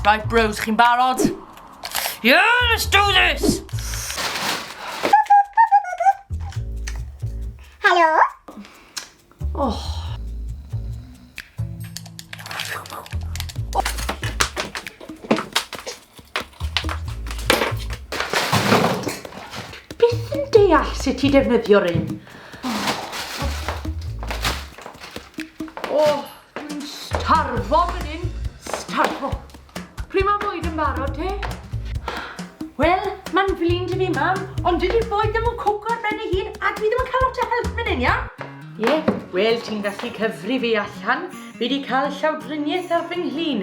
Right bros, chi'n barod? Yeah, let's do this! Helo? Oh. Beth yn deall sut ti defnyddio'r un? Yn starfo fan hyn, starfo. Pryd mae bwyd yn barod te? Wel, mae'n flin dy fi, mam, ond dydy bwyd ddim yn cwco ar ben ei hun a dwi ddim yn cael lot o help fan hyn, iawn? Ie, yeah. wel, ti'n gallu cyfri fi allan. Fi wedi cael llawdriniaeth ar fy nghlin.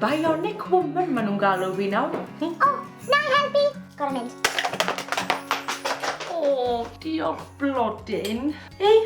Bionic woman maen nhw'n galw fi nawr. O, oh, na i helpu. Gorau mynd. O, oh, diolch blodyn. Ei,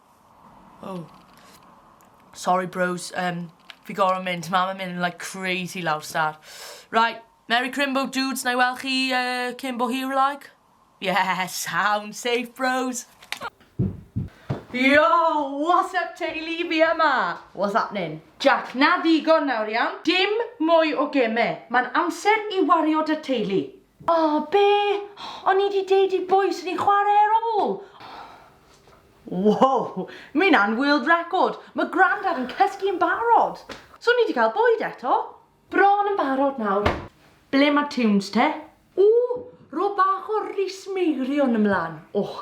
Oh. Sorry bros, um, fi gorau mynd, mam yn mynd yn like crazy lawr star. Right, Merry Crimbo dudes, na i weld chi uh, cyn bo hir like? Yeah, sound safe bros. Yo, what's up teulu fi yma? What's happening? Jack, na ddigon nawr iawn, dim mwy o geme, mae'n amser i wario dy teulu. O, be? O'n i 'di deud i bwy swn i'n chwarae ar ôl? Wow! Mae hynna'n world record! Mae Grandad yn cysgu yn barod! So ni 'di cael bwyd eto? Bron yn barod nawr. Ble mae tunes te? Ww! Ro bach o Rhys Meirion ymlan. Och!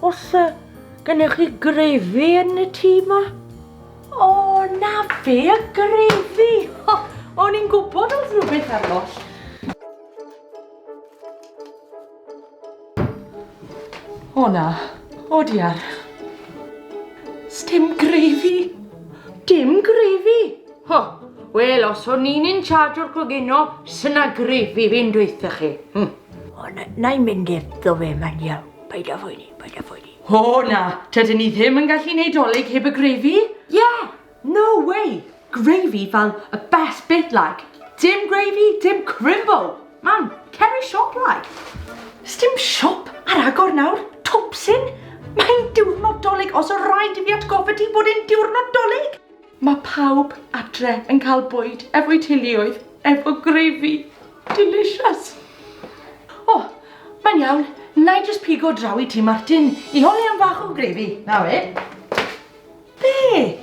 Os uh, gennych chi grefi yn y tŷ yma? O, na fe, y grefi! O'n i'n gwybod oedd rhywbeth arall. O na, o diar. Stim grefi. Dim grefi? Ho, wel os o'n i'n in charge o'r clogino, syna grefi fi'n dweitha chi. Hm. O, na, na i mynd efdo fe, mae'n iawn. Paid â phoeni, paid â phoeni. O na, tydyn ni ddim yn gallu neud dolyg heb y grefi? Ie, yeah, No way! Gravy fel y best bit like! Dim gravy, dim crimble! Man, cer i siop like! Sdim siop ar agor nawr, Twpsyn! Mae'n diwrnod Dolig, os o raid i fi atgoffa ti bod e'n diwrnod Dolig! Mae pawb adre yn cael bwyd efo'u teuluoedd efo gravy. Delicious! O, mae'n iawn, na i jyst pigo draw i Tŷ Martin i holi am fach o gravy. Na we. Be?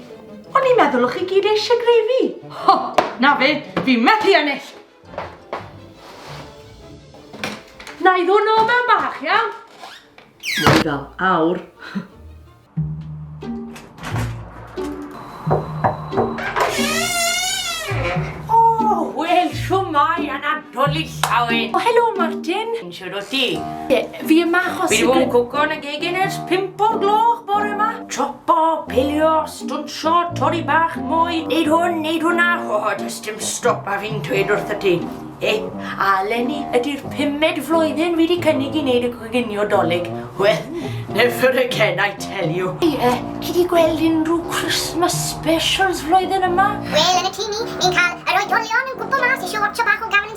O'n i'n meddwl o chi gyd eisiau grefi. Ho, na fe, fi methu ennill. Na i ddod nôl mewn bach, iawn? Mwy fel awr. O, wel, siwmai, anadol i llawen. O, helo, Martin. Shwd wyt ti? Ie, fi yma achos... Fi 'di bod yn cwco yn y gegin ers pump o'r gloch bore yma. Chopo, pilio, stwnsio, torri bach mwy, neud hwn, neud hwnna. O, oh, does dim stop a fi'n dweud wrth y ti. E, a Lenny, ydy'r pumed flwyddyn fi wedi cynnig i wneud y coginio dolyg. Wel, never again, I tell you. Ie, yeah, ti wedi gweld unrhyw Christmas specials flwyddyn yma? Wel, yn y tu ni, ni'n cael yr oedolion yn gwybod mas eisiau watcha bach o Gavin